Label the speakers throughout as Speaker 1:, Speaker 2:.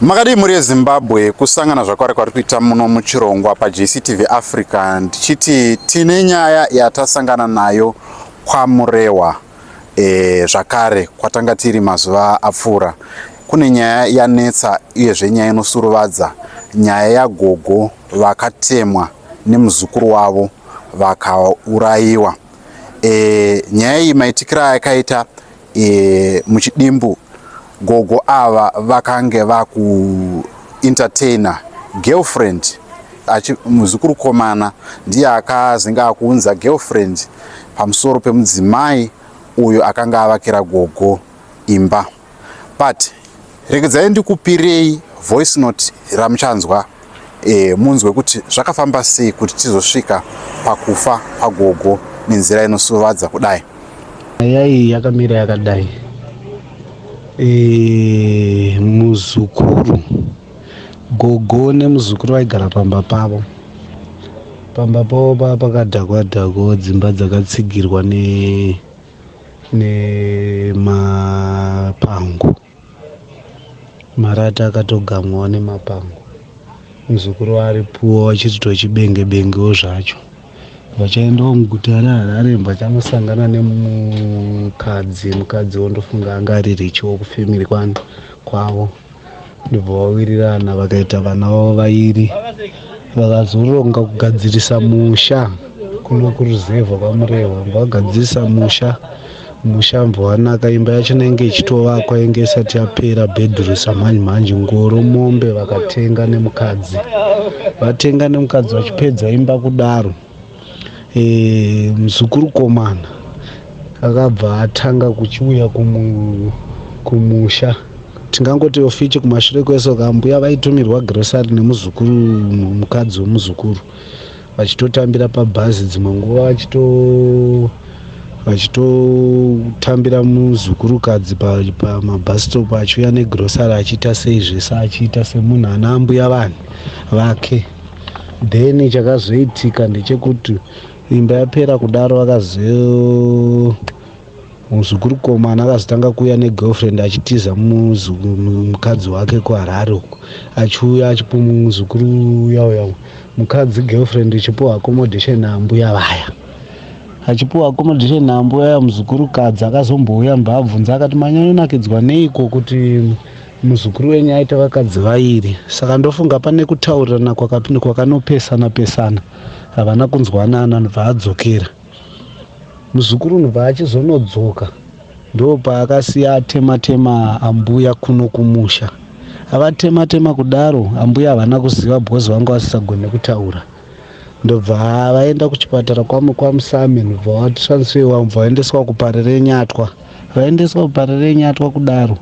Speaker 1: makadii mhuri yezimbabwe kusangana zvakwari kwari kuita muno muchirongwa pajctv africa ndichiti tine nyaya yatasangana nayo kwamurewa e, zvakare kwatanga tiri mazuva apfuura kune nyaya yanetsa uyezve nyaya inosuruvadza nyaya yagogo vakatemwa nemuzukuru wavo vakaurayiwa e, nyaya iyi maitikira yakaita e, muchidimbu gogo ava vakange vakuentertainer girlfriend muzukuru komana ndiye akazinge akuunza girlfriend pamusoro pemudzimai uyo akanga avakira gogo imba but regedzai ndikupirei voice note ramuchanzwa e, munzwe kuti zvakafamba sei kuti tizosvika pakufa kwagogo nenzira inosuvadza kudai nyaya iyi
Speaker 2: yakamira yakadai e, muzukuru gogo nemuzukuru vaigara pamba pavo pamba pavo pava pakadhakwa dhakwa dzimba dzakatsigirwa ne nemapango marata akatogamwawo nemapango muzukuru ari puwa vachiti tochibenge bengewo zvacho vachaendawo muguta reharare vachangosangana nemukadzi mukadzi wondofunga anga aririchiwo kufamily kwani kwavo ndibva vawirirana vakaita vana vavo vairi vakazoronga kugadzirisa musha kuno kuruzevha kwamurehwa vagadzirisa musha musha mbwanaka imba yacho nainge ichitovakwa inge isati yapera bhedhurusa mhanji mhanji ngoro mombe vakatenga nemukadzi vatenga nemukadzi vachipedza imba kudaro e, mzukuru komana akabva atanga kuchiuya kumu, kumusha tingangoti ofichi kumashure kwese kambuya vaitumirwa grocery nemuzukuru mukadzi wemuzukuru vachitotambira pabhazi dzimwe nguva vachito vachitotambira muzukurukadzi pamabhasitop achiuya negrosari achiita sei zvese achiita semunhu ana ambuya vanhu vake then chakazoitika ndechekuti imba yapera kudaro akazo muzukuru komana akazotanga kuuya negirlfriend achitiza mukadzi wake kuharare uko achiuya achipo muzukuru uya uya mukadzi girlfriend ichipiwa accommodation ambuya vaya achipiwa accommodation nambuya muzukuru kadzi akazombouya mbabvunza akati manyanyonakidzwa neiko kuti muzukuru wenyu aita vakadzi vairi saka ndofunga pane kutaurirana kwakanopesana pesana havana kunzwanana anobva adzokera muzukuru unobva achizonodzoka ndo paakasiya atema tema ambuya kuno kumusha avatema tema kudaro ambuya havana kuziva because vanga vasisagone kutaura ndobva vaenda kuchipatara kwamwe kwamusame ndobva watransfewa mubva vaendeswa kuparirenyatwa vaendeswa kuparirenyatwa kudaro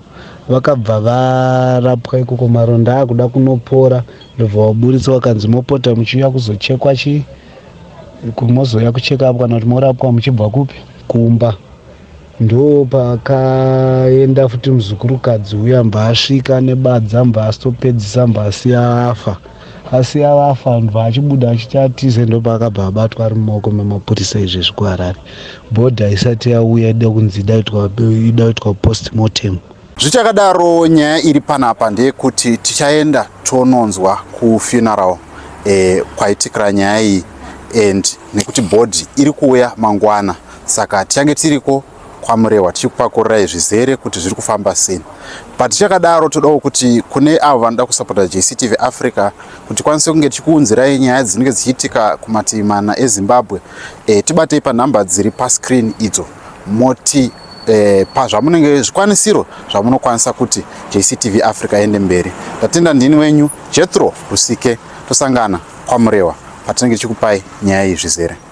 Speaker 2: vakabva varapwa ikoko maronda akuda kunopora ndobva waburitswa wakanzi mopota muchiuya kuzochekwa chii kumozouya kucheka apo kana kuti morapwa muchibva kupi kumba ndo pakaenda futi muzukuru kadzi uya mbasvika nebadza mbastopedzisa mbasi afa asi ava afa anhu vaachibuda achiti atize ndopaakabva abatwa ari mumaoko memapurisa izvezvi kuharare bhodha haisati yauya ida kunzi ida kuitwa postmortem zvichakadaro
Speaker 1: nyaya iri panapa ndeyekuti tichaenda tononzwa kufuneral eh, kwaitikira nyaya iyi and nekuti bhodhi iri kuuya mangwana saka tichange tiriko kwaMurehwa tichikupakururai zvizere kuti zviri kufamba sei but tichakadaro todawo kuti kune avo vanoda kusapota jctv africa kuti tikwanise kunge tichikuunzirai nyaya dzinenge dzichiitika kumativi mana ezimbabwe e, tibatei panhamba dziri pascreen idzo moti e, pazvamunenge zvikwanisiro zvamunokwanisa kuti jctv africa iende mberi ndatenda ndini wenyu jetro rusike tosangana kwamurewa patinenge tichikupai nyaya iyi zvizere